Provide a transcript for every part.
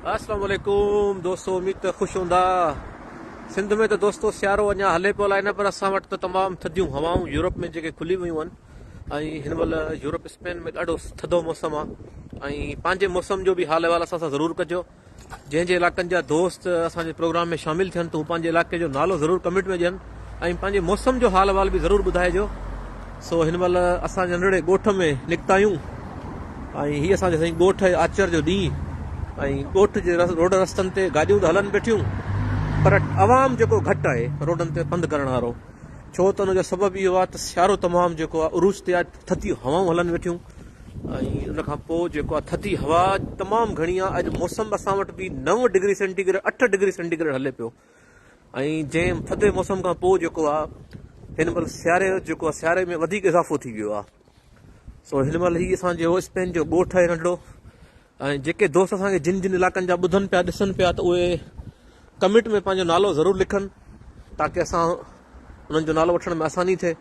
اسلام عليڪم دوستو اميد ته خوش هوندا سنڌ ۾ ته دوستو سيارو اڃا هلي پيو الاهي نه پر اسان وٽ ته تمام ٿڌيون هوائون يورپ ۾ جيڪي کلي ويون آهن ۽ هن مهل يورپ اسپين ۾ ڏاڍو ٿڌو موسم آهي ۽ پنهنجي موسم جو به حال احوال اسان سان ضرور ڪجو جنهن جي علاقن جا دوست اسان جي پروگرام ۾ شامل ٿين ته هو پنهنجي علاقي جو نالو ضرور ڪمينٽ ۾ ڏين ۽ پنهنجي موسم جو حال احوال به ضرور ٻڌائجو سو هن مهل اسان ننڍڙي ڳوٺ ۾ نڪتا آهيون ۽ هي اسان جو سائين ڳوٺ آهي آچر جو ڏينهن ۽ ڳوٺ جي روڊ رستن تي گاڏيون ته هلن بيٺيون پر عوام جيڪو گهٽ آهي روڊن تي پنڌ ڪرڻ وارو ڇو ته ان جو سبب اهو آهي ته سيارو تمام جيڪو آهي عروج تي آهي ٿڌيون هوائون هلن ويٺيون ۽ ان کان پوء جيڪو آهي ٿڌي هوا تمام گهڻي آهي اڄ موسم اسان وٽ به نو ڊگري سينٽي گريڊ اٺ ڊگري سينٽي گريڊ هلي پيو ۽ جنهن ٿڌي موسم کان پوء جيڪو آ هن مهل سياري جو جيڪو آ سياري ۾ وڌيڪ اضافو ٿي ويو آ سو هن مهل هي اسان جو اسپين جو ڳوٺ آهي ننڍڙو ۽ جيڪي دوست اسان کي جن جن علائقن جا ٻڌن پيا ڏسن پيا ته اهي ڪمينٽ ۾ پنهنجو نالو ضرور لکن تاڪي اسان انهن جو نالو وٺڻ ۾ آساني ٿئي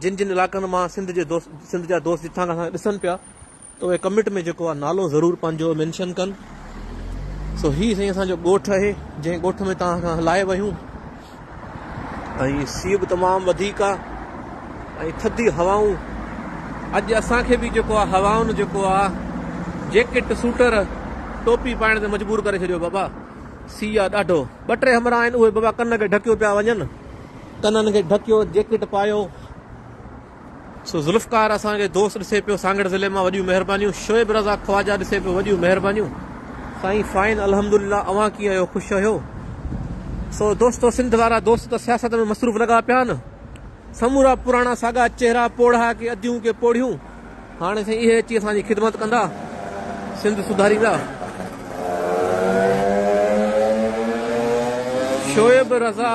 جن جن علائقن مان سنڌ جي دوست سنڌ جا دوست جتان کان اسان کي ڏسن پيا ته اهي ڪمينٽ ۾ جيڪو آ نالو ضرور پنهنجو مينشن ڪن سو هي سائين اسان جو ڳوٺ اهي جنهن ڳوٺ ۾ توهان کان هلائي ويون ۽ سي به تمام وڌيڪ آ ۽ ٿڌي هوائون اڄ اسان کي به جيڪو آ هوائن جيڪو آ جيڪٽ سوٽر ٽوپي پائڻ تي مجبور ڪري ڇڏيو بابا سي آ ڏاڍو ٻه ٽي همراهه آهن اهي بابا ڪن کي ڍڪيو پيا وڃن ڪنن کي ڍڪيو جيڪٽ پايو سو ذوالفقار اسان کي دوست ڏسي پيو سانگهڙ ضلعي مان وڏيون مهربانيون شعيب رضا خواجا ڏسي پيو وڏيون مهربانيون سائين فائن الحمدلله اوهان ڪيئن آهيو خوش آهيو سو دوستو سنڌ وارا دوست ته سياست ۾ مصروف لڳا پيا آهن سمورا پراڻا ساڳا چهرا پوڙها ڪي اديون ڪي پوڙهيون هاڻي سائين اهي اچي اسان جي خدمت ڪندا سنڌ سڌاريندا. Shoaib Raza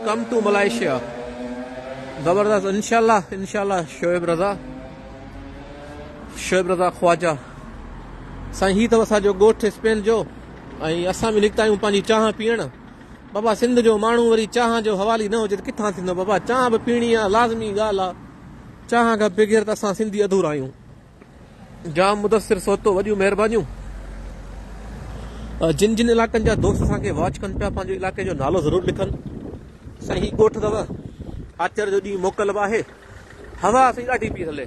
come to Malaysia زبردست انشاء الله انشاء الله شعيب رضا شعيب رضا خواجا سائين هي تو اسا جو گوٺ اسپين جو ۽ اسان به نڪتا آهيون پنهنجي چانهه پيئڻ بابا سنڌ جو ماڻهو وري چانهه جو حوالي نه هجي ته ڪٿان ٿيندو بابا چانهه به پيئڻي آ لازمي ڳالهه آ چانهه کان بغير ته اسان سنڌي اڌورا آهيون. جام مدثر سوتو وڏيون مهربانيون. جن جن علاقن جا دوست اسان کي واچ ڪن پيا پنهنجو علائقي جو نالو ضرور لکن سائين هي ڳوٺ اٿو آچر جو ڏينهن موڪل به آهي هوا سائين ڏاڍي پئي هلي.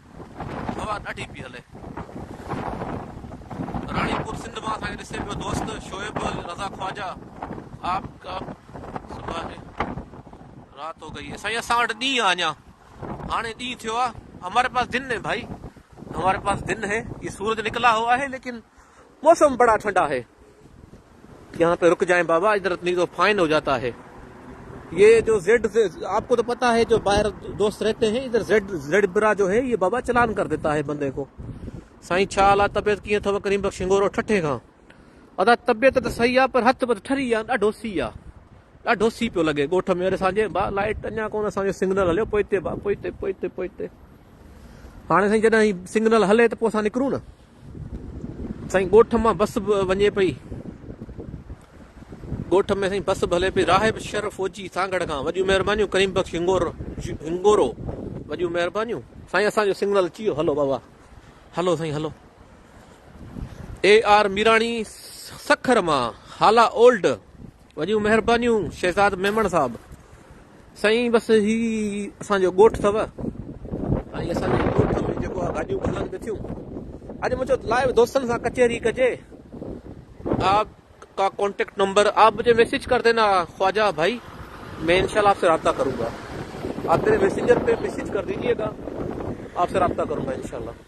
هوا ڏاڍي پئي هلي. راڻي پور سنڌ مان اسان کي ڏسي پيو دوست شعيب رضا خواجا آپ ڪا صبح هي رات هو گئي هي سائين اسان وٽ ڏينهن آ اڃا هاڻي ڏينهن ٿيو آ. هماري پاس دن هي ڀائي هماري پاس دن هي. هي سورج نڪلا هوا هي ليڪن موسم بڙا ٺنڊا هي يهان پي رک جائين بابا ادھر اتني تو فائن هو جاتا هي يه جو زيڊ آپ ڪو تو پتا هي جو باهر دوست رهتي هين ادھر زيڊ زيڊ برا جو هي يه بابا چلان ڪر ديتا هي بندي ڪو سائين ڇا حال آ طبيعت ڪيئن اٿو ڪريم بخش هنگورو ٺٺي کان ادا طبيعت ته صحيح آ پر هٿ پٿ ٺري آ ڏاڍو سي آ ڏاڍو سي پيو لڳي ڳوٺ ۾ وري اسان جي با لائٽ اڃا ڪون اسان جو سگنل هليو پوئتي با پوئتي پوئتي پوئتي هاڻي سائين جڏهن هي سگنل هلي ته پوء اسان نڪرون نه سائين ڳوٺ مان بس به وڃي پئي. ڳوٺ ۾ سائين بس به هلي پئي. راهب شرف اوچي سانگهڙ کان وڏيون مهربانيون ڪريم بخش هنگورو وڏيون مهربانيون. سائين اسان جو سنگنل اچي ويو هلو بابا هلو سائين هلو. اي آر ميراڻي سکر مان هالا اولڊ وڏيون مهربانيون شهزاد ميمڻ صاحب. سائين بس هي اسان جو ڳوٺ اٿو ۽ اسان جي ڳوٺ ۾ جيڪو آ گاڏيون به هلن به ٿيون اڄ مون چيو لائيو دوستن سان ڪچهري ڪجي آپ ڪا ڪانٽيڪٽ نمبر آپ مجھي ميسج ڪر دينا خواجه ڀائي مين انشاء الله آپ سي رابطه ڪرون گا آپ ميري ميسنجر پي ميسج ڪر ديجيئي گا آپ سي رابطه ڪرون گا انشاء الله.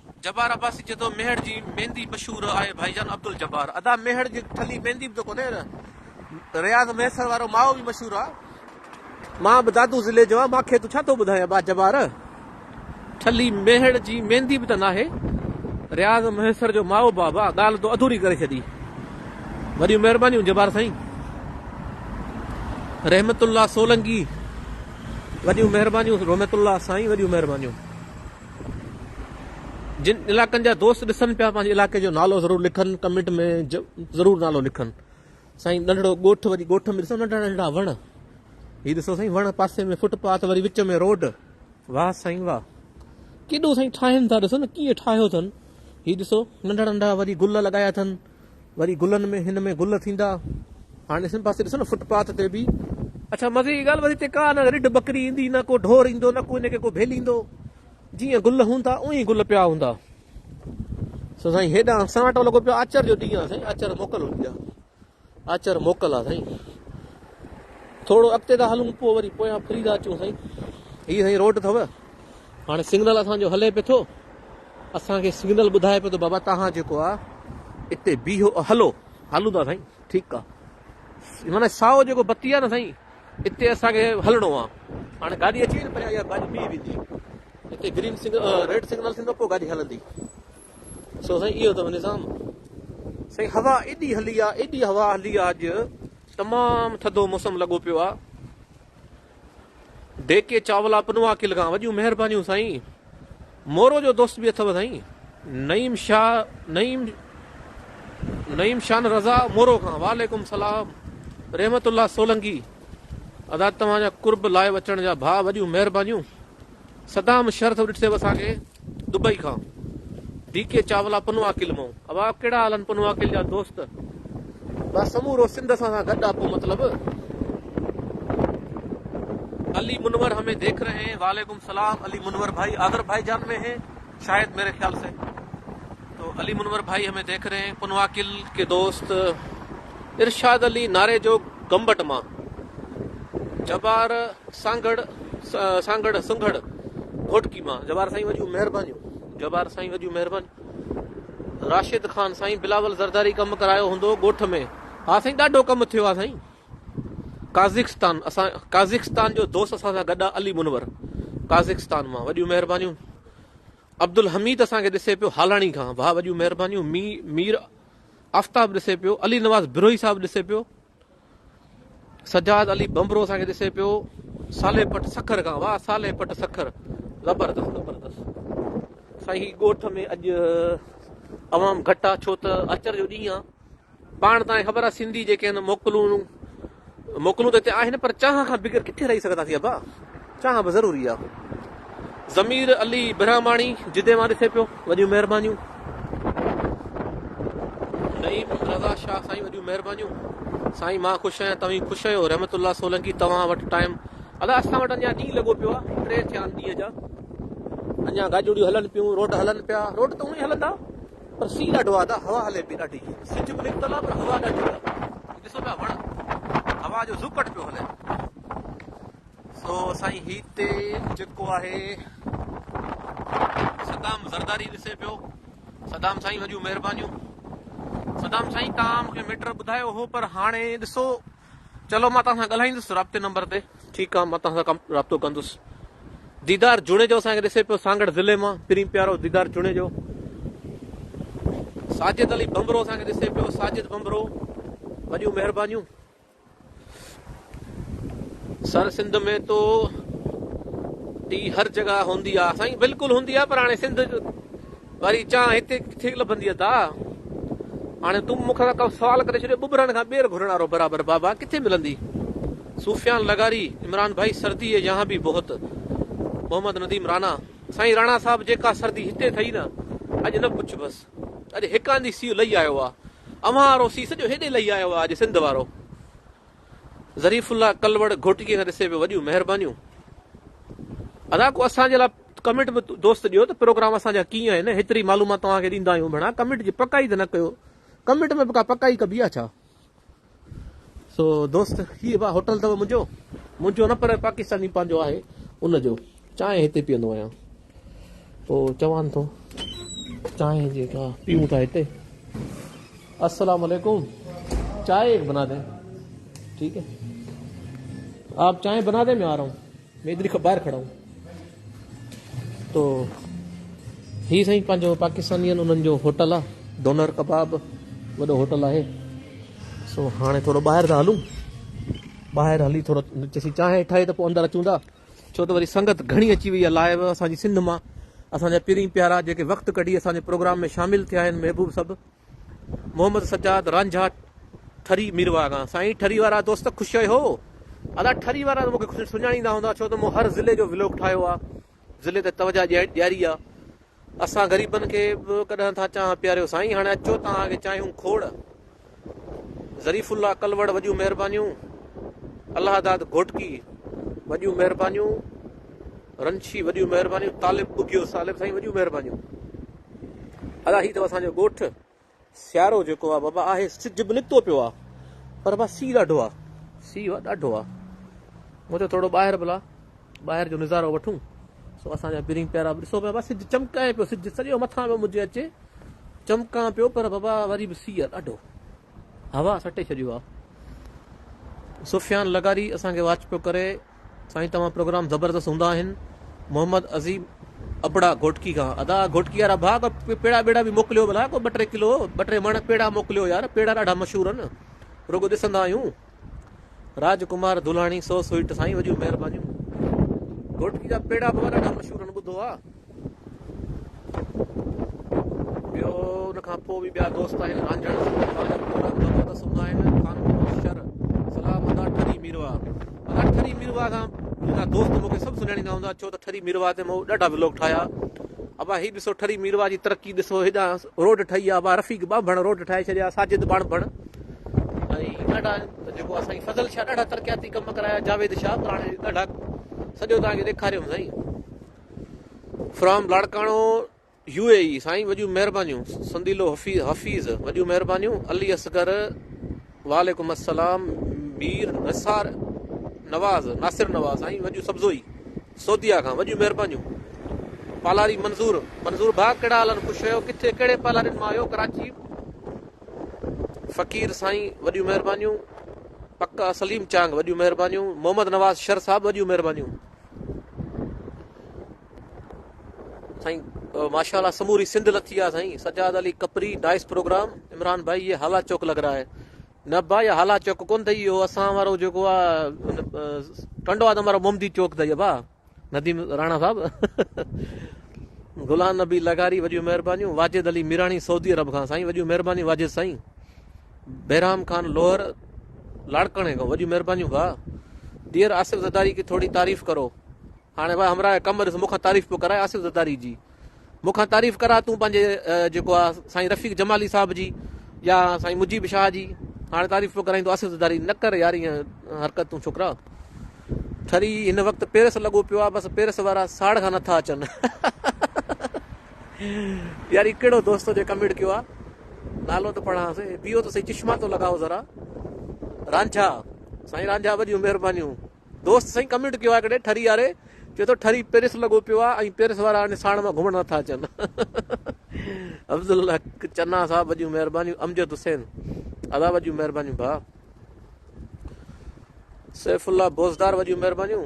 جبار عباسي چئي ٿو ميهڙ جي ميندي مشهور آهي ڀائي جان عبدالجبار ادا ميهڙ جي ٺلي ميندي به ته ڪونهي نه رياض مهيسر وارو ماء به مشهور آ مان به دادو ضلعي جو آ ماکي تون ڇا ٿو ٻڌاين با جبار ٺلي ميهڙ جي ميندي به ته ناهي رياض مهيسر جو ماء با با ڳالهه تو اڌوري ڪري ڇڏي وڏيون مهربانيون جبار سائين رحمت الله سولنگي وڏيون مهربانيون رحمت الله سائين وڏيون مهربانيون جن علاقن جا دوست ڏسن پيا پنهنجي علاقي جو نالو ضرور لکن ڪمينٽ ۾ ضرور نالو لکن سائين ننڍڙو ڳوٺ وري ڳوٺ ۾ ڏسو ننڍڙا ننڍڙا وڻ هي ڏسو سائين وڻ پاسي ۾ فٽ پاٿ وري وچ ۾ روڊ واهه سائين واهه ڪيڏو سائين ٺاهين ٿا ڏسو نه ڪيئن ٺاهيو اٿن هي ڏسو ننڍڙا ننڍڙا وري گل لڳايا اٿن وري گلن ۾ هن ۾ گل ٿيندا هاڻي هن پاسي ڏسو نه فٽ پاٿ تي به اڇا مزي جي ڳالهه وري هتي ڪا نه رڍ ٻڪري ايندي نه ڪو ڍور ايندو نه ڪو هن کي ڪو ڀيليندو جيئن گل هوندا اونئي گل پيا هوندا سو سائين هيڏانهن سناٽو لڳو پيو آچر جو ڏينهن آ سائين آچر موڪل هوندي آ آچر موڪل آ سائين ٿورو اڳتي ٿا هلون پوء وري پويان ڦري ٿا اچون سائين هي سائين روڊ اٿو هاڻي سگنل اسان جو هلي پيو ٿو اسان کي سگنل ٻڌائي پيو ته بابا توهان جيڪو آ اتي بيهو هلو هلون ٿا سائين ٺيڪ آ معنی سائو جيڪو بتي آ نه سائين اتي اسان کي هلڻو آ هاڻي گاڏي اچي نه پريان يا گاڏي بيهي ويندي اتي گرين سگنل ريڊ سگنل ٿيندو پوء گاڏي هلندي سو سائين اهو اٿم نظام سائين هوا ايڏي هلي آ ايڏي هوا هلي آ اڄ تمام ٿڌو موسم لڳو پيو آ ڊيڪي چاولا پنوا کل کان وڏيون مهربانيون سائين مورو جو دوست به اٿو سائين نعيم شاھ نعيم نعيم شان رضا مورو کان وعليڪم السلام رحمت الله سولنگي ادا توهان جا قرب لائيو اچڻ جا ڀا وڏيون مهربانيون صدام شرط ڏٺي اسان کي دبئي کان ڊي ڪي چاولا پنواڪل مئو اوا ڪهڙا حال آهن پنواڪل جا دوست بس سمورو سنڌ اسان سان گڏ آ پو مطلب علي منور همي ديک رهي هين وعليڪم سلام علي منور ڀائي آذر ڀائي جان ۾ هي شايد ميري خيال سي تو علي منور ڀائي همي ديک رهي هين پنواڪل ڪي دوست ارشاد علي ناري جو گمبٽ مان جبار سانگهڙ سانگهڙ سنگهڙ گهوٽڪي مان جبار سائين وڏيون مهربانيون جبار سائين وڏيون مهربانيون راشد خان سائين بلاول زرداري ڪم ڪرايو هوندو ڳوٺ ۾ ها سائين ڏاڍو ڪم ٿيو آ سائين قازقستان اسان قازقستان جو دوست اسان سان گڏ علي منور قازقستان مان وڏيون مهربانيون عبدالحميد اسان کي ڏسي پيو هالاڻي کان واهه وڏيون مهربانيون مير آفتاب ڏسي پيو، علي نواز بروهي صاحب ڏسي پيو، سجاد علي ڀنڀرو اسان کي ڏسي پيو، صالح پٽ سکر کان واهه صالح پٽ سکر زبردست زبردست سائين هي ڳوٺ ۾ اڄ عوام گهٽ آ ڇو ته اچر جو ڏينهن آ پاڻ تان خبر آ سنڌي جيڪي آهن موڪلون موڪلون ته اتي آهن پر چانهه کان بغير ڪٿي رهي سگهنداسين ابا؟ چانهه به ضروري آ. ضمير علي برهماڻي جدي مان ڏسي پيو. وڏيون مهربانيون. نعيم رضا شاهه سائين وڏيون مهربانيون. سائين مان خوش آهيان توهين خوش آهيو رحمت الله سولنگي توهان وٽ ٽائيم ادا اسان وٽ اڃا ڏينهن لڳو پيو آهي ٽي ٿيا آهن ڏينهن جا اڃا گاڏيون ڏيون هلن پيون روڊ هلن پيا روڊ ته اونئي هلندا پر سي ڏاڍو آ دا هوا هلي پي ڏاڍي. سج به نڪتل آ پر هوا ڏاڍي آ. هي ڏسو پيا وڻ هوا جو زوڪٽ پيو هلي. سو سائين هي تي جيڪو آهي صدام زرداري ڏسي پيو. صدام سائين وڏيون مهربانيون. صدام سائين تان مونکي ميٽر ٻڌايو هو پر هاڻي ڏسو چلو مان توهان سان ڳالهائيندس رابطي نمبر تي. ٺيڪ آ مان توهان سان رابطو ڪندس. ديدار جوڻيجو اسان کي ڏسي پيو سانگهڙ ضلعي مان پرين پيارو ديدار جوڻيجو. ساجد علي بمبرو اسان کي ڏسي پيو ساجد بمبرو وڏيون مهربانيون. سر سنڌ ۾ تو ٽي هر جڳهه هوندي آ سائين بلڪل هوندي آ پر هاڻي سنڌ واري چانھ ھتي ڪٿي لڀندي ادا. ھاڻي تون مون کان ڪو سوال ڪري ڇڏيو ٻٻرن کان ٻير گھرڻ وارو برابر بابا ڪٿي ملندي. صوفيان لغاري، عمران ڀائي سردي ھي يھان بي بھت. محمد نديم رانا، سائين رانا صاحب جيڪا سردي ھتي ٿئي نه اڄ نه پڇبس. اڄ ھڪ آنڌي سيء لھي آيو آ. اوھان وارو سيء سڄو ھيڏي لھي آيو آ اڄ سنڌ وارو. ظريف الله ڪلوڙ گهوٽڪي کان ڏسي ويو وڏيون مهربانيون ادا ڪو اسان جي لا ڪمنٽ به دوست ڏيو ته پروگرام اسان جا ڪيئن آهن هيتري معلومات توهان کي ڏيندا آهيون ڀيڻا ڪمنٽ جي پڪائي ته نه ڪيو ڪمنٽ ۾ به ڪا پڪائي ڪبي آ ڇا سو دوست هي با هوٽل ته منهنجو منهنجو نه پر پاڪستاني پنهنجو آهي ان جو چانهه هتي پيئندو آهيان پوء چوان ٿو چانهه جيڪا پيئون ٿا هتي. السلام عليڪم چائي ايڪ بنا دين ٺيڪ هي آپ چائي بنا دين مين آ رها هون مين ادھر هي باهر کڙا هون تو هي سائين پنهنجو پاڪستاني آهن انهن جو هوٽل آ ڊونر ڪباب وڏو هوٽل آهي سو هاڻي ٿورو ٻاهر ٿا هلون ٻاهر هلي ٿورو چيسين چانهه ٺاهي ته پوء اندر اچون ٿا ڇو ته وري سنگت گهڻي اچي وئي آهي لائيو اسان جي سنڌ مان اسان جا پرين پيارا جيڪي وقت ڪڍي اسان جي پروگرام ۾ شامل ٿيا آهن محبوب سڀ محمد سجاد رانجها ٺري ميرواگان سائين ٺري وارا دوست خوش آهي هو ادا ٺري وارا ته مونکي سڃاڻيندا هوندا ڇو ته مون هر ضلعي جو ولوگ ٺاهيو آهي ضلعي تي توجه ڏياري آهي اسان غريبن کي به ڪڏهن ٿا چانهه پياريو سائين هاڻي اچو توهان کي چانهيون کوڙ. ظريف الله ڪلوڙ وڏيون مهربانيون. الله داد گهوٽڪي وڏيون مهربانيون. رنڇي وڏيون مهربانيون. طالب ٻگهيو سالب سائين وڏيون مهربانيون. ادا هي اٿو اسان جو ڳوٺ سيارو جيڪو آ بابا آهي سج به نڪتو پيو آ پر بابا سي ڏاڍو آ سي آ ڏاڍو آ مون چيو ٿورو ٻاهر بلا ٻاهر جو نظارو وٺون سو اسان جا پرين پيارا ڏسو پيا بابا سج چمڪائي پيو سج سڄو مٿان پيو مجھي اچي چمڪان پيو پر بابا وري به سي آ ڏاڍو هوا سٽي ڇڏيو آ سفيان لغاري اسان کي واچ پيو ڪري سائين توهان پروگرام زبردست هوندا آهن محمد عظيم ابڙا گهوٽڪي کان ادا گهوٽڪي وارا ڀا ڪو پيڙا ٻيڙا به موڪليو ڀلا ڪو ٻه ٽي ڪلو ٻه ٽي مڻ پيڙا موڪليو يار پيڙا ڏاڍا مشهور آهن رڳو ڏسندا آهيون راج ڪمار دھلاڻي سو سوئٽ سائين وڏيون مهربانيون گهوٽڪي جا پيڙا به ڏاڍا مشهور آهن ٻڌو آ ٻيو ان کان پوء به ٻيا دوست آهن، رانجهڙ، سنڌو، ٻالڪ، ڀولڪ، ڀڳت ته سوندا آهن، خانپور، شر، صلاح، مدار، ٺري، ميرواهه. مدار، ٺري، ميرواهه کان منهنجا دوست مون کي سڀ سڃاڻيندا هوندا، ڇو ته ٺري ميرواهه تي مون ڏاڍا ولاگ ٺاهيا. ابا هي ڏسو ٺري ميرواهه جي ترقي ڏسو، هيڏانهن روڊ ٺهي آ، ابا رفيق ٻانڀڻ روڊ ٺاهي ڇڏيا، ساجد ٻاڻڀڻ ۽ ڏاڍا جيڪو آ سائين فضل شاهه ڏاڍا ترقياتي ڪم ڪرايا، جاويد شاهه پراڻي ڏاڍا سڄو توهان کي ڏيکاريم سائين. From Larkana U A E سائين وڏيون مهربانيون سنديلو حفيظ وڏيون مهربانيون علي اصغر وعليڪم السلام مير نثار نواز ناصر نواز سائين وڏيون سبزوئي سوديا کان وڏيون مهربانيون پالاري منظور منظور ڀا ڪهڙا حالن خوش آهيو ڪٿي ڪهڙي پالارين مان آهيو ڪراچي فقير سائين وڏيون مهربانيون پڪا سليم چانگ وڏيون مهربانيون محمد نواز شر صاحب وڏيون مهربانيون سائين ماشاء اللہ سموری سندھ لٿي آ سائیں سجاد علی کپري نائس پروگرام عمران بھائی یہ حالا چوڪ لگ رہا ہے نه بھائی حالا چوڪ ڪون تھي اهو اسان وارو جيڪو آ ٽنڊو آدم وارو محمدي چوڪ تھي ابا نديم راڻا صاحب غلام نبي لغاري وڏيون مهربانيون واجد علي ميراڻي سعودي عرب کان سائين وڏيون مهربانيون واجد سائين بهرام خان لوهر لاڙڪاڻي کان وڏيون مهربانيون ڀاء. ڊيئر آصف زرداري ڪي ٿوري تعريف ڪرو هاڻي وا همراهه قمر ڏس مون کان تعريف پيو ڪرائي آصف زرداري جي مون کان تعريف ڪرا تون پنهنجي جيڪو آ سائين رفيق جمالي صاحب جي يا سائين مجيب شاهه جي هاڻي تعريف پيو ڪرائين تو آصف زرداري نه ڪر يار ائين حرڪت تون ڇوڪرا ٺري هن وقت پيرس لڳو پيو آ بس پيرس وارا ساڙ کان نٿا اچن يار هي ڪهڙو دوست ٿو جنهن ڪمينٽ ڪيو آ نالو ته پڙهان سي بيهو ته سهي چشما تو لڳاء ذرا رانجها سائين رانجها وڏيون مهربانيون دوست سائين ڪمينٽ ڪيو آ هڪڙي ٺري واري چي ٿو ٺري پيرس لڳو پيو آ ۽ پيرس وارا هاڻي ساڻ مان گهمڻ نٿا اچن افضل الحق چنا صاحب وڏيون مهربانيون امجد حسين ادا وڏيون مهربانيون ڀا سيف الله بوزدار وڏيون مهربانيون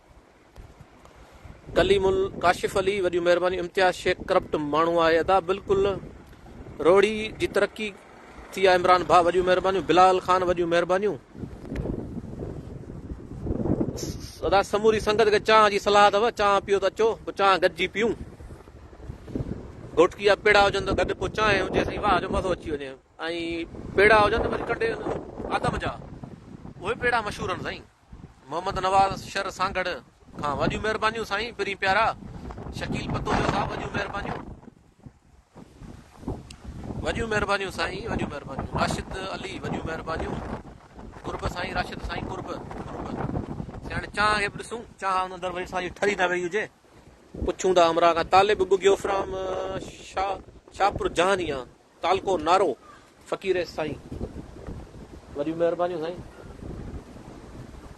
ڪليم ال ڪاشف علي وڏيون مهربانيون امتياز شيخ ڪرپٽ ماڻهو آهي ادا بلڪل روڙي جي ترقي ٿي آ عمران ڀا وڏيون مهربانيون بلال خان وڏيون مهربانيون ادا سموري سنگت کي چانه جي صلاح اٿو چانه پيو ته اچو پو چانه گڏجي پيون گهوٽڪي جا پيڙا هجن ته گڏ پو چانه هجي سائين واهه جو مزو اچي وڃي ۽ پيڙا هجن ته وري ڪنڊي آدم جا اهي پيڙا مشهور آهن سائين محمد نواز شر سانگهڙ کان وڏيون مهربانيون سائين پرين پيارا شڪيل پتوجو صاحب وڏيون مهربانيون وڏيون مهربانيون سائين وڏيون مهربانيون راشد علي وڏيون مهربانيون قرب سائين راشد سائين قرب قرب سياڻي چانه کي به ڏسون چانه ان اندر ويٺ سائين ٺري نه ويئي هجي پڇون ٿا همراهه کان طالب بگيو فرام شاهپور جهانيان تعلقو نارو فقير سائين. وڏيون مهربانيون سائين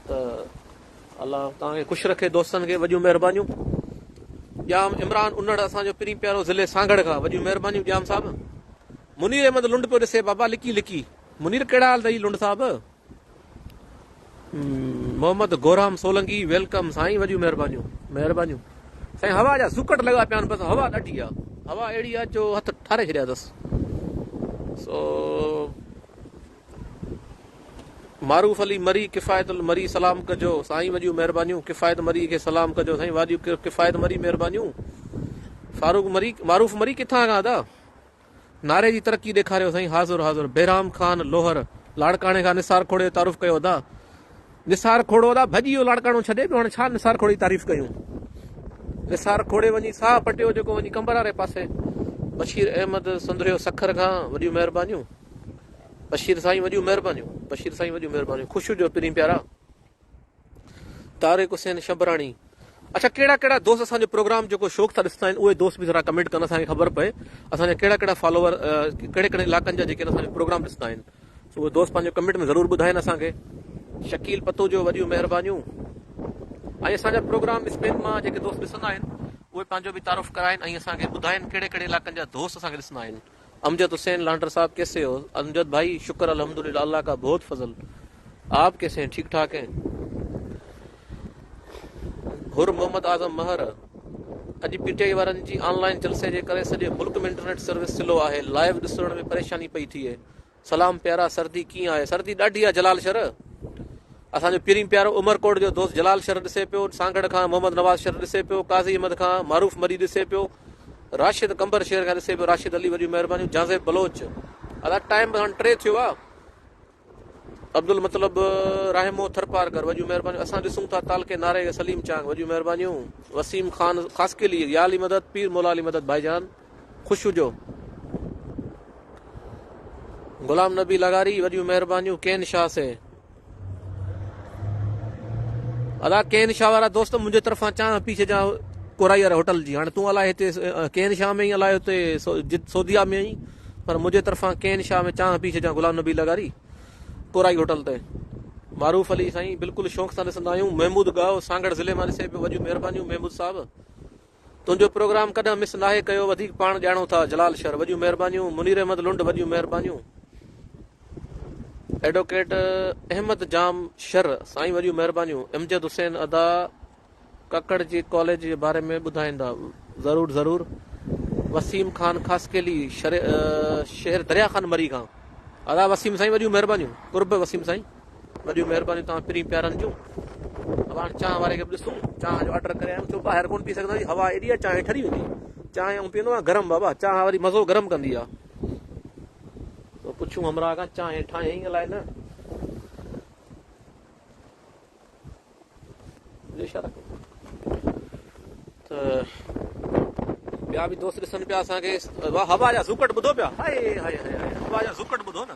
ته الله توهان کي خوش رکي دوستن کي وڏيون مهربانيون ڄام عمران انڙ اسان جو پرين پيارو ضلعي سانگهڙ کان وڏيون مهربانيون ڄام صاحب منير احمد لنڊ پيو ڏسي بابا لڪي لڪي منير ڪهڙا حال اٿئي لنڊ صاحب. محمد گورام سولنگي ويلڪم سائين وڏيون مهربانيون مهربانيون سائين هوا جا سڪٽ لڳا پيا آهن بس هوا ڏاڍي آ هوا اهڙي آ جو هٿ ٺاري ڇڏيا اٿس سو معروف علي مري کفايت المري سلام ڪجو سائين وڏيون مهربانيون کفايت مري کي سلام ڪجو سائين وڏيون کفايت مري مهربانيون فاروق مري معروف مري ڪٿان کان ادا نعري جي ترقي ڏيکاريو سائين حاضر حاضر. بهرام خان لوهر لاڙڪاڻي کان نثار کوڙي جو تعارف ڪيو ادا. نثار کوڙو ادا ڀڄي ويو لاڙڪاڻو ڇڏي ٻيو هاڻي ڇا نثار کوڙي جي تعريف ڪيون. نثار کوڙي وڃي ساهه پٽيو جيڪو وڃي قمبر واري پاسي. بشير احمد سندريو سکر کان وڏيون مهربانيون بشير سائين وڏيون مهربانيون بشير سائين وڏيون مهربانيون خوشو جو پرين پيارا. طارق حسين شبراڻي اڇا ڪهڙا ڪهڙا دوست اسان جو پروگرام جيڪو شوق سان ڏسندا آهن اهي دوست به ذرا ڪمينٽ ڪن اسان کي خبر پئي اسان جا ڪهڙا ڪهڙا فالوور ڪهڙي ڪهڙي علائقن جا جيڪي اسان جو پروگرام ڏسندا آهن سو اهي دوست پنهنجو ڪمينٽ ۾ ضرور ٻڌائين اسان کي شڪيل پتوجو وڏيون مهربانيون ۽ اسان جا پروگرام اسپين مان جيڪي دوست ڏسندا آهن اهي پنهنجو به تعارف ڪرائين ۽ اسان کي ٻڌائين ڪهڙي ڪهڙي علائقن جا دوست اسان کي ڏسندا آهن. امجد حسين لانڊر صاحب ڪيسي هو امجد ڀائي شڪر الحمدلله الله ڪا بهت فضل آپ ڪيسي هين ٺيڪ ٺاڪ هين حر محمد اعظم مهر اڄ پي ٽي آئي وارن جي آن لائن جلسي جي ڪري سڄي ملڪ ۾ انٽرنيٽ سروس سلو آهي لائيو ڏسڻ ۾ پريشاني پئي ٿئي سلام پيارا سردي ڪيئن آهي سردي ڏاڍي آهي جلال شر اسان جو پرين پيارو عمر ڪوٽ جو دوست جلال شر ڏسي پيو سانگھڙ کان محمد نواز شر ڏسي پيو قاضي احمد کان معروف مري ڏسي پيو راشد قمبر شهر کان ڏسي پيو راشد علي وڏيون مهربانيون جازيب بلوچ ادا ٽائم به هاڻ ٽي ٿيو آهي عبد المطلب رحمو ٿرپارڪر وڏيون مهربانيون اسان ڏسون ٿا تعلقي ناري سليم چانگ وڏيون مهربانيون وسيم خان خاص کيلي يا علي مدد پير مولا علي مدد ڀائي جان خوش هجو. غلام نبي لغاري وڏيون مهربانيون ڪين شاهه سي ادا ڪين شاهه وارا دوست منهنجي طرفان چانه پي ڇجا ڪورائي واري هوٽل جي هاڻي تون الاء هتي ڪين شاهه ۾ الاء هتي جد سوديا ۾ آئين پر منهنجي طرفان ڪين شاهه ۾ چانه پي ڇجا غلام نبي لغاري ڪورائي هوٽل تي معروف علي سائين بلڪل شوق سان ڏسندا آهيون محمود گاهو سانگڙ ضلع مان ڏسي پيو وڏيون مهربانيون محمود صاحب تنهنجو پروگرام ڪڏهن مس ناهي ڪيو وڌيڪ پاڻ ڄاڻو ٿا جلال شر وڏيون مهربانيون منير احمد لنڊ وڏيون مهربانيون ايڊوڪيٽ احمد جام شر سائين وڏيون مهربانيون امجد حسين ادا ڪڪڙ جي ڪاليج جي باري ۾ ٻڌائيندا ضرور ضرور وسيم خان خاصڪيلي شهر دريا خان مري کان ادا وسيم سائين وڏيون مهربانيون قرب وسيم سائين وڏيون مهربانيون توهان پرين پيارن جون. اب هاڻ چانهه واري کي به ڏسون چانهه جو آرڊر ڪري آيم ڇو ٻاهر ڪون پي سگهندا آهيون هوا ايڏي آهي چانهه ٺري ويندي چانهه آئون پيئندو آهيان گرم بابا چانهه واري مزو گرم ڪندي آهي سو پڇون همراهه کان چانهه ٺاهيائين الائي نه اشاره ڪيو ته ٻيا به دوست ڏسن پيا اسان کي هوا جا زوڪٽ ٻڌو پيا هاي هاي هاي هاي هوا جا زوڪٽ ٻڌو نه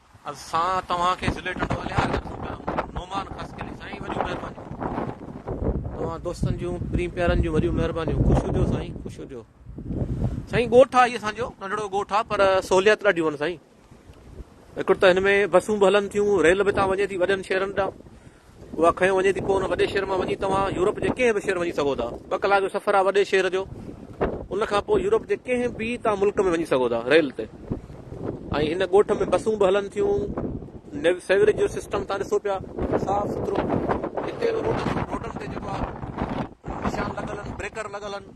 اسان توهان کي ضلعي ٽنڊوالهيار جا پروگرام نعمان خاص ڪري سائين وڏيون مهربانيون توهان دوستن جون پرين پيارن جون وڏيون مهربانيون خوش هجو سائين خوش هجو سائين ڳوٺ آ هي اسان جو ننڍڙو ڳوٺ آ پر سهوليات ڏاڍيون آهن سائين هڪڙو ته هن ۾ بسون به هلن ٿيون ريل به تان وڃي ٿي وڏن شهرن ڏانهن اها کنيو وڃي ٿي پوء ان وڏي شهر مان وڃي توهان يورپ جي ڪنهن به شهر وڃي سگهو ٿا ٻه ڪلاڪ جو سفر آهي وڏي شهر جو ان کان پوء يورپ جي ڪنهن به توهان ملڪ ۾ وڃي سگهو ٿا ريل تي ۽ هن ڳوٺ ۾ بسون به هلن ٿيون سيوريج جو سسٽم تان ڏسو پيا صاف سٿرو هتي روڊن تي جيڪو آهي نشان لڳل آهن بريڪر لڳل آهن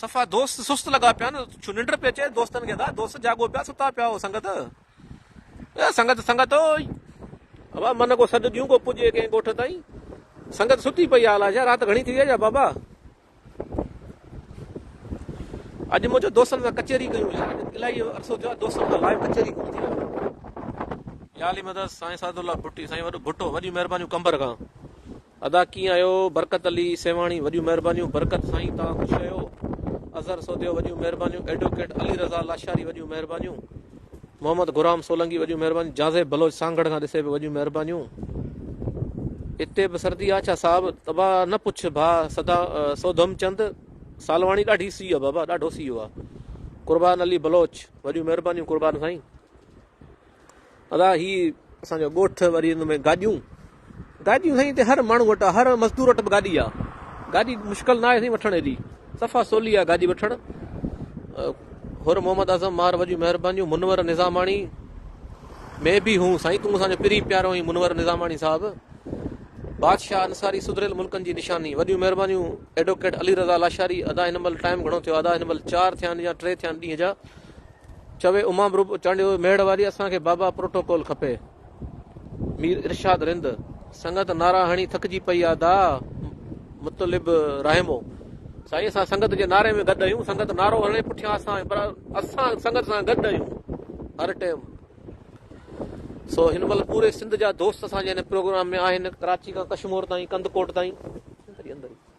صفا دوست سست لڳا پيا آهن، ڇو ننڊ پئي اچي دوستن کي، ادا دوست جاڳو پيا ستا پيا هو سنگت اي سنگت سنگت اوئي، ابا من ڪو سڏ ڏيون ڪو پڄي ڪنهن ڳوٺ تائين، سنگت ستي پئي آهي الا ڇا رات گهڻي ٿي وئي يا بابا اڄ مون چيو دوستن سان ڪچهري ڪيون يار اڄ الاهي عرصو ٿيو آهي دوستن سان لائيو ڪچهري ڪونه ٿي آهي. يا علي مدد سائين سعد الله ڀٽي سائين وڏو ڀٽو وڏيون مهربانيون قمبر کان. ادا ڪيئن آهيو برڪت علي سيوهاڻي وڏيون مهربانيون برڪت سائين توهان خوش آهيو اظهر سوڌيو وڏيون مهربانيون ايڊوڪيٽ علي رضا لاشاري وڏيون مهربانيون محمد غرام سولنگي وڏيون مهربانيون جازيب بلوچ سانگهڙ کان ڏسي به وڏيون مهربانيون اتي به سردي آ ڇا صاحب تبا نه پڇ ڀا سدا سوڌم چند سالواڻي ڏاڍي سي آ بابا ڏاڍو سيو آ قربان علي بلوچ وڏيون مهربانيون قربان سائين ادا هي اسان جو ڳوٺ وري ان ۾ گاڏيون گاڏيون سائين هتي هر ماڻهو وٽ هر مزدور وٽ به گاڏي آ گاڏي مشڪل نه آهي سائين وٺڻ ايڏي صفا سولي آ گاڏي وٺڻ هر محمد اعظم مار وجي مهربانيون منور نظاماڻي ۾ به هون سائين تون اسان جو پري پيارو آهي منور نظاماڻي صاحب بادشاهه انصاري سڌريل ملڪن جي نشاني وڏيون مهربانيون ايڊووڪيٽ علي رضا لاشاري ادا هن مهل ٽائم گهڻو ٿيو ادا هن مهل چار ٿيا آهن يا ٽي ٿيا آهن ڏينهن جا چوي امام رب چانڊيو ميڙ واري اسان کي بابا پروٽوڪول کپي مير ارشاد رند سنگت نعرا هڻي ٿڪجي پئي آ دا مطلب رحمو سائين اسان سنگت جي نعري ۾ گڏ آهيون سنگت نعرو هڻي پٺيان اسان پر اسان سنگت سان گڏ آهيون هر ٽائم سو هن مهل پوري سنڌ جا دوست اسان جي هن پروگرام ۾ آهن ڪراچي کان ڪشمور تائين ڪند ڪوٽ تائين اندر اندر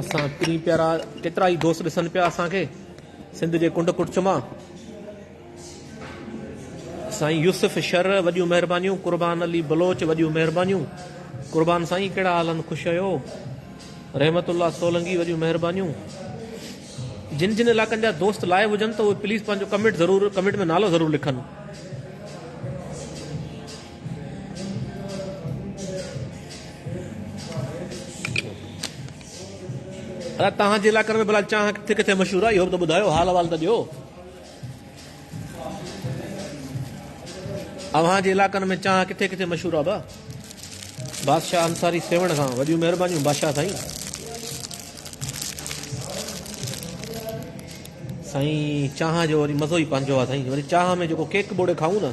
اسان پرين پيارا ڪيترا ئي دوست ڏسن پيا اسان کي سنڌ جي ڪنڊ ڪڙڇ مان سائين يوسف شر وڏيون مهربانيون قربان علي بلوچ وڏيون مهربانيون قربان سائين ڪهڙا حال ان خوش هيو رحمت الله سولنگي وڏيون مهربانيون جن جن علاقن جا دوست لائيو هجن ته اهي پليز پنهنجو ڪمينٽ ضرور ڪمينٽ ۾ نالو ضرور لکن ادا تهان جي علاقن ۾ بلا چانهه ڪٿي ڪٿي مشهور آهي اهو به ته ٻڌايو حال احوال ته ڏيو اوهان جي علاقن ۾ چانهه ڪٿي ڪٿي مشهور آهي با بادشاهه انصاري سيوڻ کان وڏيون مهربانيون بادشاهه سائين سائين چانهه جو وري مزو ئي پنهنجو آهي سائين وري چانهه ۾ جيڪو ڪيڪ ٻوڙي کائون نه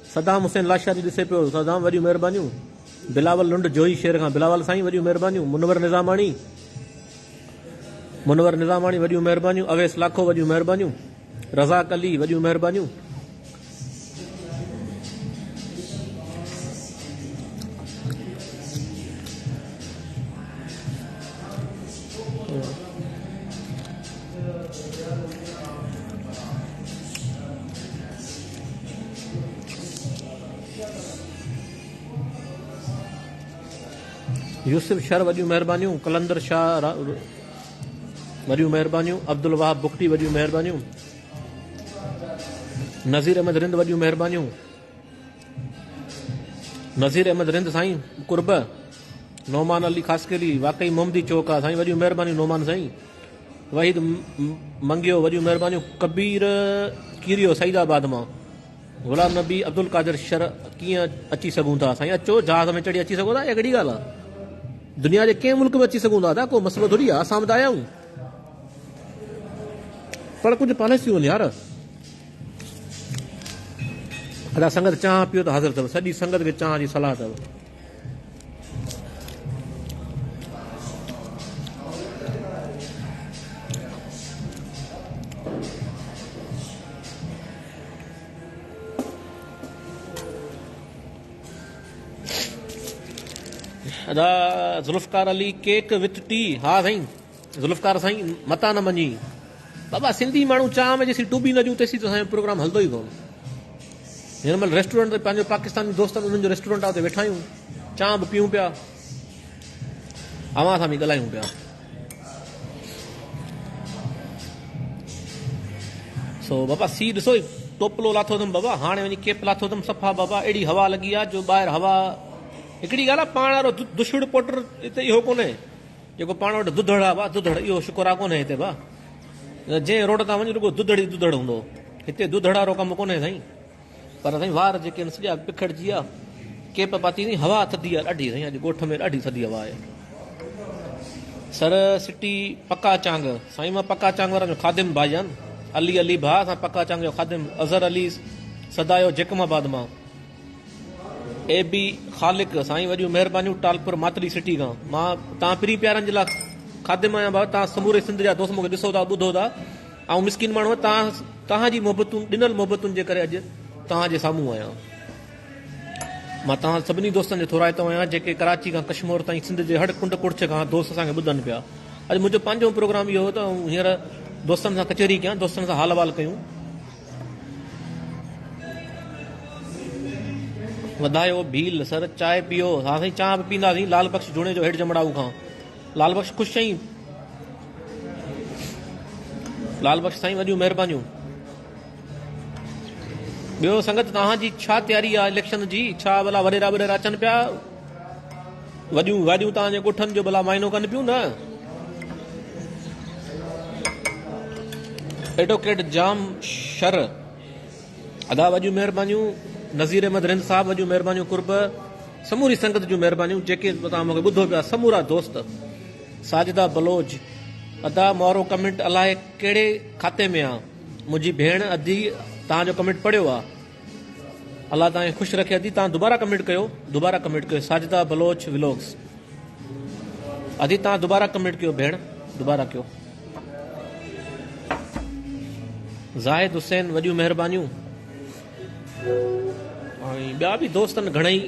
صدام حسين لاشاري ڏسي پيو صدام وڏيون مهربانيون بلاول لنڊ جويي شير کان بلاول سائين وڏيون مهربانيون منور نظاماڻي منور نظاماڻي وڏيون مهربانيون اويس لاکو وڏيون مهربانيون رزاق علي وڏيون مهربانيون يوسف شر وڏيون مهربانيون قلندر شاهه وڏيون مهربانيون عبدالوهاب بگٽي وڏيون مهربانيون نذير احمد رند وڏيون مهربانيون نذير احمد رند سائين قرب نومان علي خاص واقعي محمدي چوڪ آ سائين وڏيون مهربانيون نومان سائين وحيد منگيو وڏيون مهربانيون ڪبير ڪيريو سعيد آباد مان غلام نبي عبدالقادر شر ڪيئن اچي سگهون ٿا سائين اچو جهاز ۾ چڙهي اچي سگهو ٿا اها ڪهڙي ڳالهه آهي دنيا جي ڪنهن ملڪ ۾ اچي سگهون ٿا ادا ڪو مسئلو ٿوري آهي اسان به ته آيا آهيون پر ڪجهه پاليسيون هن يار ادا سنگت چانهه پيو ته حاضر اٿو سڄي سنگت کي چانهه جي صلاح اٿو ادا Zulfiqar Ali cake with tea ها سائين ذوالفقار سائين متان نه مڃين بابا سنڌي ماڻهو چانهه ۾ جيسين ٽوبي نه جون تيسين ته اسان جو پروگرام هلندو ئي ڪون هن مهل ريسٽورنٽ تي پنهنجو پاڪستاني دوستن انهن جو ريسٽورنٽ آهي اتي ويٺا آهيون چانهه به پيئون پيا اوهان سان به ڳالهايون پيا سو بابا سي ڏسو ٽوپلو لاٿو اٿم بابا هاڻي وڃي کيپ لاٿو اٿم صفا بابا اهڙي هوا لڳي آ جو ٻاهر هوا هڪڙي ڳالهه آ پاڻ وارو دشوڙ پوٽر هتي اهو ڪونهي جيڪو پاڻ وٽ دڌڙ آ ڀا دڌڙ اهو شڪرا ڪونهي هتي ڀا جنهن روڊ تان وڃ رڳو دڌڙ ئي دڌڙ هوندو هتي دڌڙ وارو ڪم ڪونهي سائين پر سائين وار جيڪي آهن سڄا پکڙجي آ ڪيپ پاتي سائين هوا ٿڌي آ ڏاڍي سائين اڄ ڳوٺ ۾ ڏاڍي ٿڌي هوا آهي سر سٽي پڪا چانگ سائين مان پڪا چانگ وارن جو خادم ڀائي جان علي علي ڀا اسان پڪا چانگ جو خادم اظهر علي سدايو جيڪم آباد مان اي بي خالق سائين وڏيون مهربانيون ٽالپر ماتلي سٽي کان مان تان پرين پيارن جي لا خادم آيان با تان سموري سنڌ جا دوست مونکي ڏسو ٿا ٻڌو ٿا آئون مسڪين ماڻهو تان تان جي محبتون ڏنل محبتن جي ڪري اڄ تان جي سامهون آيان مان تان سڀني دوستن جو ٿورائتو آيان جيڪي ڪراچي کان ڪشمور تائين سنڌ جي هڙ ڪنڊ ڪڙڇ کان دوست اسان کي ٻڌن پيا اڄ منهنجو پنهنجو پروگرام اهو هو ته آئون هينئر دوستن سان ڪچهري ڪيان دوستن سان حال احوال ڪيون وڌايو ڀيل سر چانهه پيئو. ها سائين چانهه به پيئنداسين لعل بخش جوڻيجو هيٺ جمڙائو کان لعل بخش خوش چئين لعل بخش سائين وڏيون مهربانيون ٻيو سنگت توهان جي ڇا تياري آهي اليڪشن جي ڇا ڀلا وڏيرا وڏيرا اچن پيا وڏيون گاڏيون توهان جي ڳوٺن جو ڀلا معائنو ڪن پيون نه؟ ايڊوڪيٽ جام شر ادا وڏيون مهربانيون نذير احمد رند صاحب وڏيون مهربانيون قرب سموري سنگت جون مهربانيون جيڪي توهان مونکي ٻڌو پيا سمورا دوست ساجدا بلوچ ادا مورو ڪمنٽ الاهي ڪهڙي کاتي ۾ آ منهنجي ڀيڻ ادي توهان جو ڪمنٽ پڙهيو آ الله توهان کي خوش رکي ادي توهان دوباره ڪمينٽ ڪيو دوباره ڪمينٽ ڪيو ساجده بلوچ ولوگس ادي توهان دوباره ڪمينٽ ڪيو ڀيڻ دوباره ڪيو زاهد حسين وڏيون مهربانيون ۽ ٻيا به دوستن گھڻئي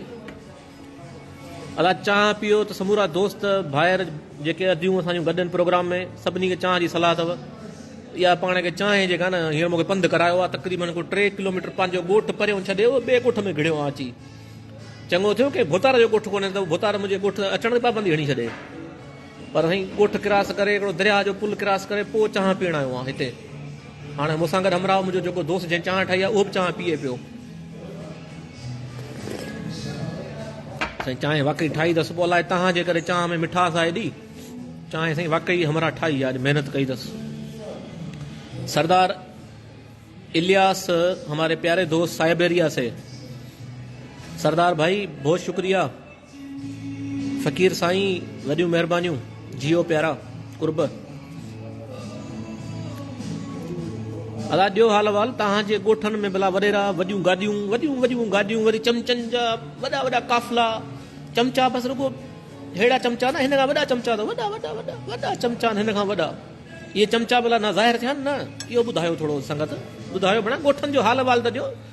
ادا چانهه پيئو ته سمورا دوست ڀائر جيڪي اديون اسان جون گڏ آهن پروگرام ۾ سڀني کي چانهه جي صلاح اٿو اها پاڻ کي چانهه جيڪا نه هينئر مونکي پنڌ ڪرايو آهي تقريبن ڪو ٽي ڪلوميٽر پنهنجو ڳوٺ پريون ڇڏي اهو ٻئي ڳوٺ ۾ گهڙيو آهي اچي چڱو ٿيو ڪنهن ڀوتار جو ڳوٺ ڪونهي ته ڀوتار منهنجي ڳوٺ اچڻ تي پابندي هڻي ڇڏي پر سائين ڳوٺ ڪراس ڪري هڪڙو درياهه جو پل ڪراس ڪري پوء چانهه پيئڻ آيو آهيان هتي. هاڻي مون سان گڏ همراهه منهنجو جيڪو دوست جنهن چانهه ٺاهي آهي اهو به چانهه پيئي پيو. سائين چانهه واقعي ٺاهي اٿس پوء الائي تنهن جي ڪري چانهه ۾ مٺاس آهي ايڏي. چانهه سائين واقعي همراهه ٺاهي آهي اڄ محنت ڪئي اٿس. سردار الياس هماري پياري دوست سائبيريا سي. سردار ڀائي بهت شڪريه. فقير سائين وڏيون مهربانيون جيئو پيارا قرب ادا ڏيو حال وال تهان جي ڳوٺن ۾ بلا وڏيرا وڏيون گاڏيون وڏيون وڏيون گاڏيون وري چمچن جا وڏا وڏا قافلا چمچا بس رڳو هيڙا چمچا نه هن کان وڏا چمچا اٿو وڏا وڏا وڏا وڏا چمچا هن کان وڏا اهي چمچا بلا نه ظاهر ٿيا نه اهو ٻڌايو ٿورو سنگت ٻڌايو بنا ڳوٺن جو حال وال ته ڏيو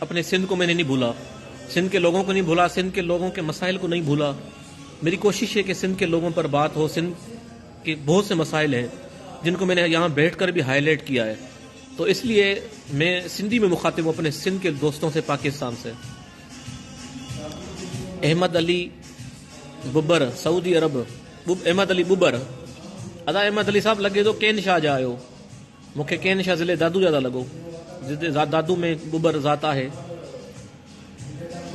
اپني سنڌ ڪو مين نهين ڀولا، سنڌ ڪي لوگون ڪو نهين ڀولا، سنڌ ڪي لوگون ڪي مسائل ڪو نهين ڀولا، ميري ڪوشش هي ڪي سنڌ ڪي لوگون پر بات هو، سنڌ ڪي بهت سي مسائل هين جن ڪو مين نهين يهان بيٺ ڪر بهي هائي ليٽ ڪيا هي تو اس ليئي مين سنڌي مين مخاطب هون اپني سنڌ ڪي دوستون سي پاڪستان سي احمد علي ببر سعودي عرب احمد علي ببر ادا احمد علي صاحب لڳي ٿو ڪين شاهه جا آهيو. مون کي ڪين شاهه ضلعي دادو يادا لڳو جتي ذات دادو ۾ ٻٻر ذات آهي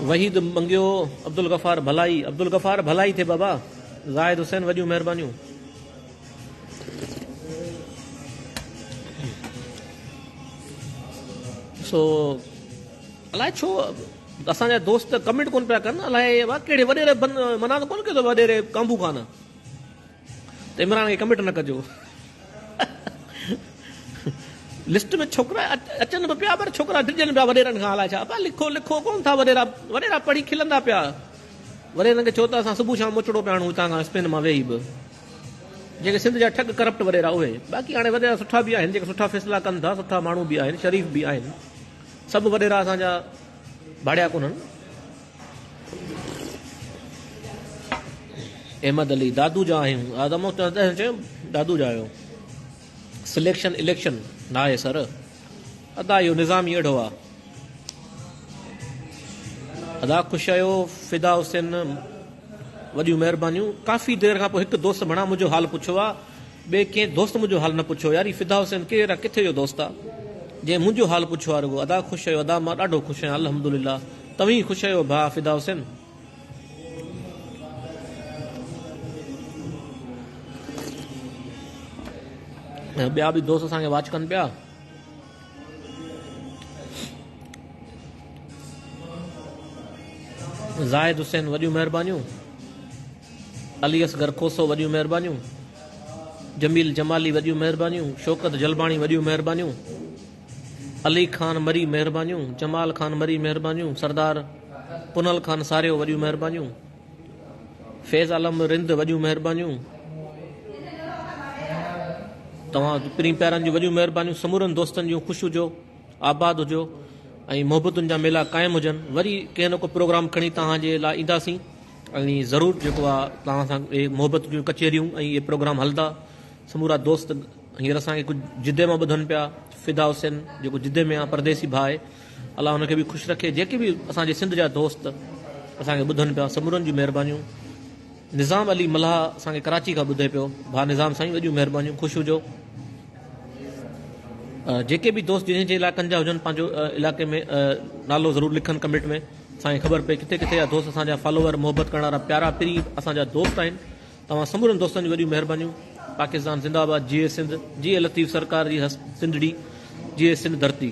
وحيد منگيو عبدالغفار ڀلائي عبدالغفار ڀلائي ٿي بابا زاهد حسين وڏيون مهربانيون سو الاء ڇو اسان جا دوست ڪمنٽ ڪون پيا ڪن الاء وا ڪهڙي وڏيري منا ته ڪون ڪيو وڏيري ڪانبو خان ته عمران کي ڪمٽ نه ڪجو لسٽ ۾ ڇوڪرا اچن به پيا پر ڇوڪرا ڊڄن پيا وڏيرن کان الاء ڇا پيا لکو لکو ڪون ٿا وڏيرا وڏيرا پڙهي کلندا پيا وڏيرن کي چو ته اسان صبح شام مچڙو پيا آڻون هتان کان اسپين مان ويهي به جيڪي سنڌ جا ٺڳ ڪرپٽ وڏيرا اهي باقي هاڻي وڏيرا سٺا به آهن جيڪي سٺا فيصلا ڪن ٿا سٺا ماڻهو به آهن شريف به آهن سڀ وڏيرا اسان جا ڀاڙيا ڪونهن احمد علي دادو جا آهيون آدم دادو جا آهيو سليڪشن اليڪشن ناهي سر ادا اهو نظام ئي اهڙو آهي ادا خوش آهيو فدا حسين وڏيون مهربانيون ڪافي دير کان پوء هڪ دوست بڻا منهنجو حال پڇيو آهي ٻئي ڪنهن دوست منهنجو حال نه پڇيو يار هي فدا حسين ڪير آ ڪٿي جو دوست آ جنهن منهنجو حال پڇيو آ رڳو ادا خوش ڪيو ادا مان ڏاڍو خوش آهيان الحمدلله توهين خوش آهيو ڀاء فدا حسين. ٻيا به دوست اسان کي واچ ڪن پيا. زاهد حسين وڏيون مهربانيون. علي اصغر کوسو وڏيون مهربانيون جميل جمالي وڏيون مهربانيون شوڪت جلباڻي وڏيون مهربانيون علي خان مري مهربانيون جمال خان مري مهربانيون سردار پنل خان ساريو وڏيون مهربانيون فيض عالم رند وڏيون مهربانيون توهان پرين پيارن جون وڏيون مهربانيون سمورن دوستن جون خوش هجو آباد هجو ۽ محبتن جا ميلا قائم هجن وري ڪنهن نه ڪو پروگرام کڻي توهان جي لاء اينداسين ۽ ضرور جيڪو آ توهان سان اهي محبت جون ڪچهريون ۽ اهي پروگرام هلندا سمورا دوست هينئر اسان کي ڪجهه جدي مان ٻڌن پيا فدا حسين جيڪو جدي ۾ آ پرديسي ڀاء الله هن کي به خوش رکي جيڪي به اسان جي سنڌ جا دوست اسان کي ٻڌن پيا سمورن جون مهربانيون نظام علي ملاح اسان کي ڪراچي کان ٻڌي پيو ڀاء نظام سائين وڏيون مهربانيون خوش هجو جيڪي به دوست جن جن علائقن جا هجن پنهنجو علائقي ۾ نالو ضرور لکن ڪمينٽ ۾ سائين خبر پئي ڪٿي ڪٿي اھا دوست اسان جا فالوور محبت ڪرڻ وارا پيارا پرين اسان جا دوست آھن توھان سمورن دوستن جون وڏيون مھربانيون پاڪستان زنده آباد جيئي سنڌ جيئي لطيف سرڪار جي ھست سنڌڙي جيئي سنڌ ڌرتي.